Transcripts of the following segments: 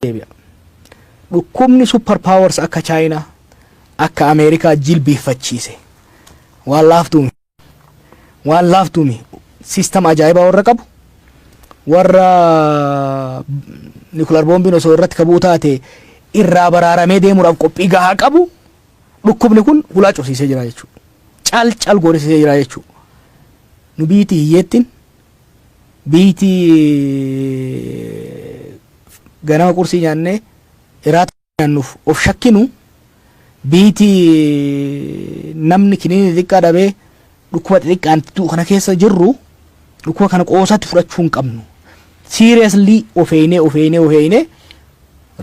deebi'a. Dhukkubni super powers akka Chaayinaa akka Ameerikaa jilbiiffachiise waan laaftuumi. Waan laaftuumi. Siistam ajaa'ibaa warra qabu warra nikular boombiin osoo irratti kabuu taate irraa baraaramee deemuudhaaf qophii gahaa qabu dhukkubni kun hulaa cufsiisee jira jechuudha. Cal cal goorisiisee jira jechuudha. Nu biyyittii hiyyeettiin Biyti ganama qursii nyaannee iraata nyaannuuf of shakkinu biyti namni kiniini xixiqqaa dhabee dhukkuba xixiqqaan du'u kana keessa jirru dhukkuba kana qoosatti fudhachuu hin qabnu. Seriously of eeynee of eeynee of eeynee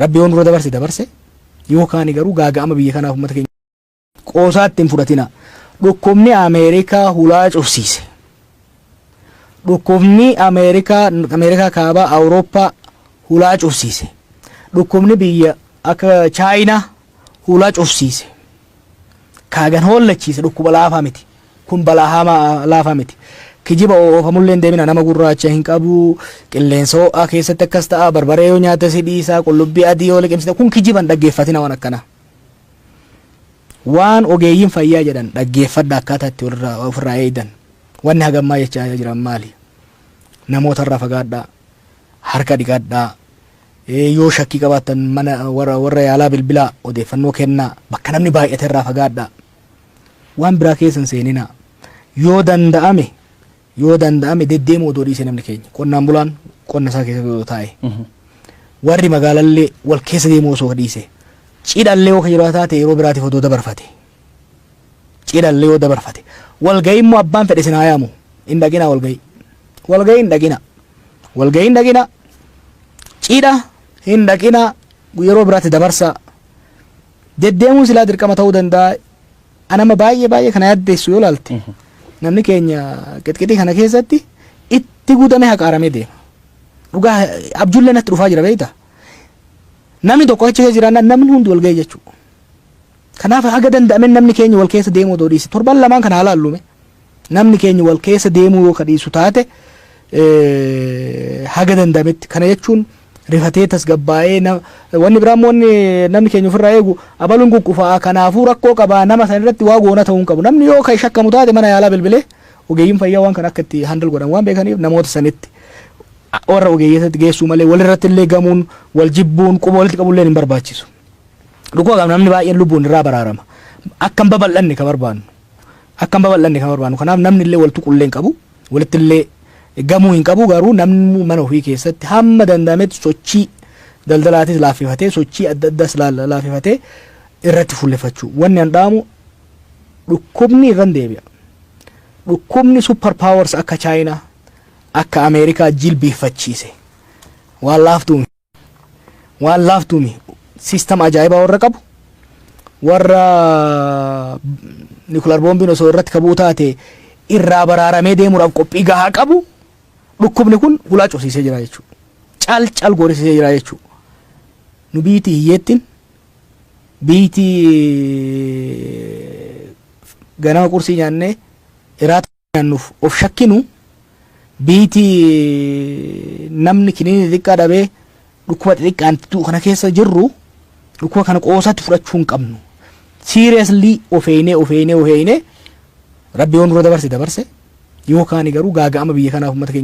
rabbi yoo nurra dabarse dabarse yoo kaani garuu gaaga'ama biyya kanaaf uummata keenya Qoosaatti hin fudhatinaa. Dhukkubni Ameerikaa hulaa cufsiise. Dhukkubni Ameerikaa, Ameerikaa Kaabaa, Awurooppaa hulaa cufsiise. Dhukkubni biyya akka Chaayinaa hulaa cufsiise. Kaagan hoollachiise dhukkuba laafaa miti. Kun balaa hamaa laafaa miti. Kijiba oofamullee hin deemina nama gurraacha hin qabu, qilleensa ho'aa keessatti akkas ta'a, barbaree yoo nyaata si dhiisa, qullubbii adii yoo liqimsite kun kijiba hin dhaggeeffatina waan akkanaa. Waan ogeeyyiin fayyaa jedhan dhaggeeffadhaa akkaataa itti of irraa eegdan. Wanni haga ammaa jechaa jiran maali? Namoota irraa fagaadhaa, harka dhiqadhaa, yoo shakkii qabaattan mana warra yaalaa bilbilaa odeeffannoo kennaa, bakka namni baay'ate irraa fagaadhaa. Waan biraa keessa hin seeninaa. Yoo danda'ame Yoo danda'ame deddeemuu odoo dhiisee namni keenya qonnaan bulaan qonna isaa keessatti odoo taa'e warri magaalallee wal keessa deemuu osoo dhiise cidhallee yoo ka jiraa taate yeroo biraatiif odoo dabarfate cidhallee yoo dabarfate walga'ii immoo abbaan fedhe sinaa yaamu hin dhaqinaa walga'ii walga'ii hin dhaqinaa walga'ii hin dhaqinaa cidha hin dhaqinaa yeroo biraatti dabarsaa deddeemuun silaa dirqama ta'uu danda'a Anama baay'ee baay'ee kana yaaddeessu yoo laalte namni keenya qixqixii kana keessatti itti guutamee haqaaramee deema. Dhugaa abjullee natti dhufaa jira beekta. Namni tokko achi keessa jiraannaan namni hundi wal ga'e jechuudha. Kanaaf haga danda'amen namni keenya wal keessa deemuu odoo dhiise torban lamaan kana haa laallume. Namni keenya wal keessa deemuu yoo ka dhiisu taate haga danda'ametti kana jechuun rifatee tasgabbaa'ee na- wanni biraa immoo wanni namni keenya ofirraa eegu abaluun quqqufaa kanaafuu rakkoo qabaa nama san irratti waa goona ta'uu hin qabu namni yoo kan shakkamu taate mana yaalaa bilbilee ogeeyyiin fayyaa waan kana akka itti handal godhan waan beekaniif namoota sanitti warra ogeeyyotatti geessuu malee walirratti illee gamuun wal jibbuun quba walitti qabuun illee hin barbaachisu. Dhukkuba qabna namni baay'een lubbuun irraa baraarama. Akka hin babal'anne ka barbaannu. akka hin babal'anne kan barbaannu kanaaf namni illee wal tuqu illee hin qabu walitti illee gamuu hin qabu garuu namni mana ofii keessatti hamma danda'ametti sochii daldalaatis laaffifatee sochii adda addaas laaffifatee irratti fuulleffachuu wanni an dhaamu dhukkubni irran deebi'a dhukkubni super powers akka chaayinaa akka ameerikaa jilbiiffachiise waan laaftuu waan laaftuumi siistam ajaa'ibaa warra qabu warra nikular boombiin osoo irratti kabuu taate irraa baraaramee deemuudhaaf qophii gahaa qabu dhukkubni kun hulaa cufsiisee jira jechuudha. Cal cal goorisiisee jira jechuudha. Nu biyyiti hiyyeettiin biyyiti ganama qursii nyaannee iraata. nyaannuuf of shakkinu biiti namni kiniinii xiqqaa dhabee dhukkuba xixiqqaan du'u kana keessa jirru dhukkuba kana qoosaatti fudhachuu hin qabnu. Siiriyaslii of eeynee of eeynee of eeynee rabbi yoo nurra dabarse dabarse yoo kaani garuu gaaga'ama biyya kanaaf uummata keenya.